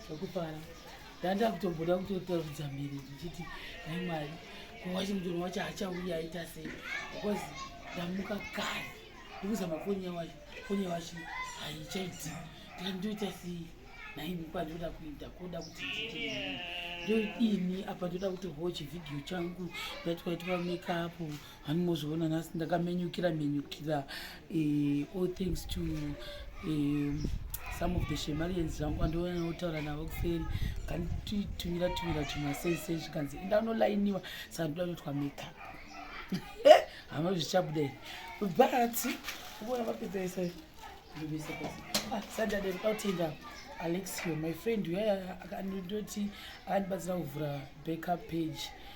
zvakufara ndanda kutomboda kutotarudza mhiri ndichiti dai mwari kuwachi mutoro wacho achauya aita sei because ndamuka kare ndikuzama foni yawacho foni yawacho haichaiti ndikanditoita sei naimi kwandoda kuita koda kuti ndidii apa ndoda kuti hochi vhidhiyo changu ndatwaitwa makeup hani mozviona nhasi ndakamenyukira menyukira eh, all thanks to eh, some of the shemarians zvangu andiona notaura navo kuseri kandititumira tumira tumasese zvikanzi indanolainiwa saka ndoda notwa meka hama zvichabuda ini but uona vapedzaisa ndobesa pasi ah, sadade ndautenga alexio my friend uyaya akandoti akandibatsira kuvhura backup page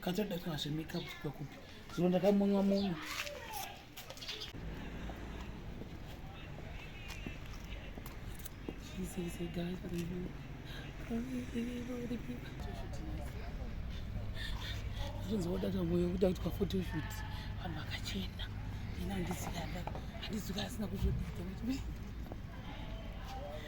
Katoda kana zve makeup kubva kupi? Zvino ndakamunywa munywa. This is a guy for the zvinzi wodata moyo kuda kuitwa photoshoot vanhu vakachena ini handizikada handizika asina kuzvodidza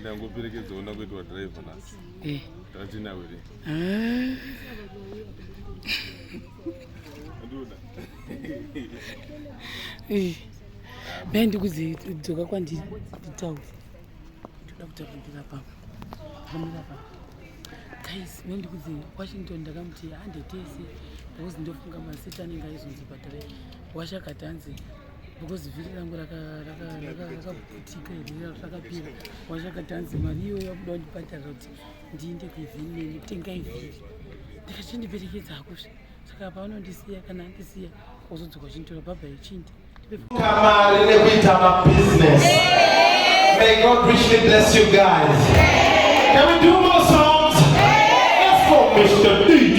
ndangoperekedza ona kuitwa driver nhasi eh. tatinawe re ah. eh. dai ndikudzoka kwandiri nditaure ndoda kutaura ndirapaa guys dai ndikudze washington ndakamuti handetese because ndofunga masita anenge aizonzi bhatarai washakati hanzi because vhiri rangu rakaputika here rakapera wazvakatanzi mari iyoyo yakuda kundibhadharira kuti ndiinde kuivhini neni kutenga ivhiri ndikachindiperekedza hakozve saka paanondisiya kana andisiya kozodzoka uchinditora bhabha yechindi kamari nekuita mabusiness may god richly bless you guys can we do more songs let's go mr dj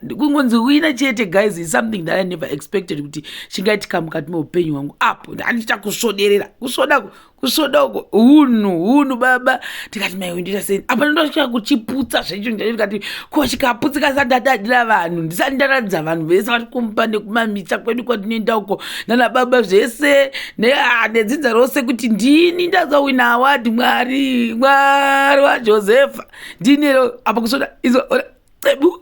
kungonzi wina chete guys is something that i never expected kuti chingaitika mukati meupenyu hwangu apo handichita kusvoderera kusvoda kusvoda uko hunhu hunhu baba tikati maiwe ndoita sei apa ndosvika kuchiputsa zvecho ndikati ko chikaputsika sa ndadadira vanhu ndisati ndaratidza vanhu vese vari kumba nekumamisa kwedu kwatinoenda uko nana baba zvese ah, nedzinza rose kuti ndini ndazowina awadi mwari mwari wajosepha ndinero apa kusvoda izo cebu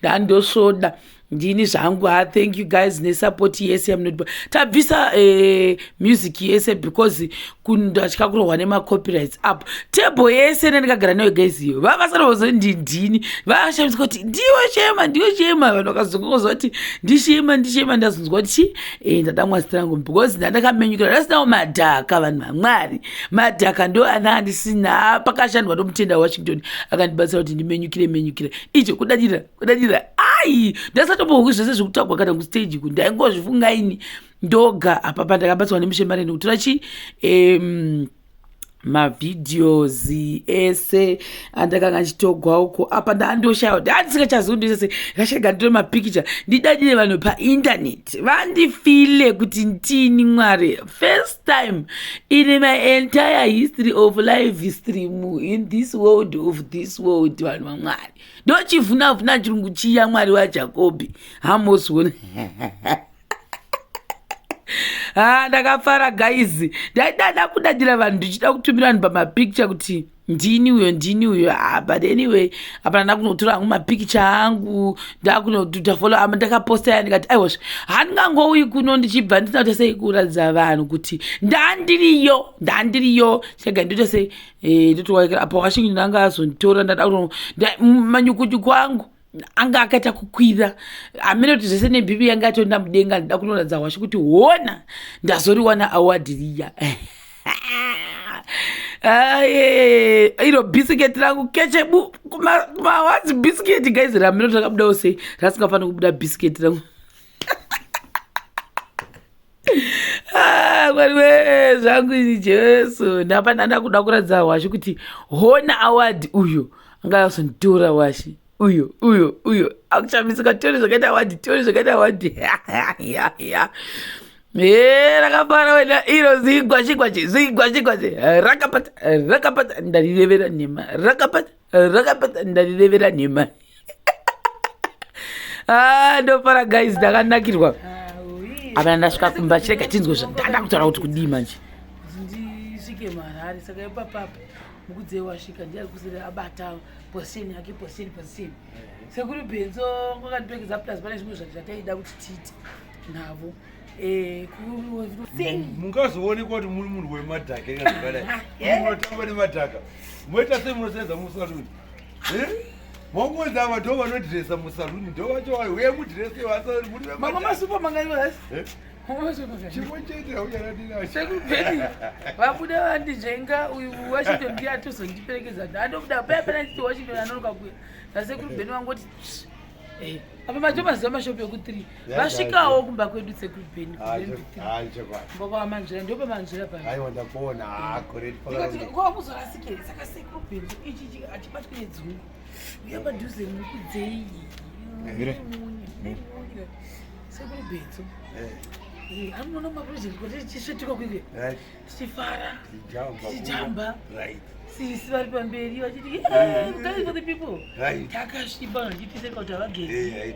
ndandosvoda ndini zvangu ha ah, thank you guys nesupport yese yamunodipa tabvisa eh, music yese because kundatya kurohwa nemacopyrights apo table yese nendikagara nayo guys iyo vava vasanovozo ndi ndini vavashamisa kuti ndiwo shema ndiwo shema vanhu vakazongoza kuti ndishema ndishema ndazonzwa kuti chi eh, ndada mwasi rangu because ndandakamenyukira ndasinawo madhaka vanhu vamwari madhaka ndo ana andisina ah, pakashandwa nomutenda wewashington akandibatsira kuti ndimenyukire menyukire icho kudadira kudadira ai ndasatombohwi zvese zvekutagwa kana kustage ku ndaingozvifunga ini ndoga hapapa ndakabatsirwa nemushe mari ndikutora chii um, mavideos ese andakanga ndichitogwa uko apa ndaandoshaya kuti handisingachazivi ndo sese ndashaga nditore mapikicha ndidadire vanhu paintaneti vandifile kuti ndini mwari first time in my entire history of life stream in this world of this world vanhu vamwari ndochivhunavhuna chirungu chiya mwari wajakobhi hamosona ha ah, ndakafara gaizi ndaidada kudadira vanhu ndichida kutumira vanhu pamapicture kuti ndini uyo ndini uyo ah, but anyway apana ndakunotora hangu mapikicha angu ndakunoduta folo ama ndakaposta ya ndikati aiwazve handingangouyi kuno ndichibva ndisina kuita sei kuratidza vanhu kuti ndandiriyo ndandiriyo chega ndoita sei eh, ndotowaikira apa washingi ndanga azonditora ndada kuno manyukunyuku angu anga akaita kukwira amene kuti zvese nebhibi yanga atoenda mudenga ndida kunoratidza hwashu kuti hona ndazoriwana award riya iro bisiketi rangu kechebu kumawadzi bisiketi guys ramino takabudawo sei rasingafanira kubuda bisiketi rangu Ah, mwari wee zvangu ini jesu ndapa ndanda kuda kuratidza hwashi kuti hona award uyo anga azonditora hwashi uyo uyo uyo akuchamisika tiori zvakaita awadi tiori zvakaita awadi ya e rakafara wena iro zigwashigwashi zigwashigwashi rakapata rakapata ndarirevera nhema rakapata rakapedza ndarirevera nhema ah, ndofara guys ndakanakirwa apa ndasvika kumba chirega tinzwe zvandanda kutaura kuti kudii manje ndisvike marari saka ipapapa mukudzi wasvika ndiari kusiri abata poseni yake poseni poseni sekuri benzo kwakandipekeza plus pane zvimwe zvati zvataida kuti tiite navo Eh, mungazoonekwa kuti muri munhu wemadhaka ekazakadai eh? munotamba nemadhaka moita sei munosenza musaluni eh? maungonzi ava ndo vanodhiresa musaluni ndo vacho vayo uye mudhirese chimwe chete haucharadiraavabuda vandinzvenga uyu washington ndiye atozondiperekedza ndandobuda paya panachiti washington anonoka kuya nasekuru bheni vangoti apa macho maziva mashopi eku3 vasvikawo kumba kwedu sekubenmbopamanzvira ndo pamanzvira paoakuzorasikei saka sekuru bendu ichi achibatwe nedzungu uya padhuze mukudzei sekuru bendu anoona maproject kuti chisvetuka kuike tichifara tichijamba sisi vari pamberi vachiti guys for the people takasviba vachitise kuti havagezi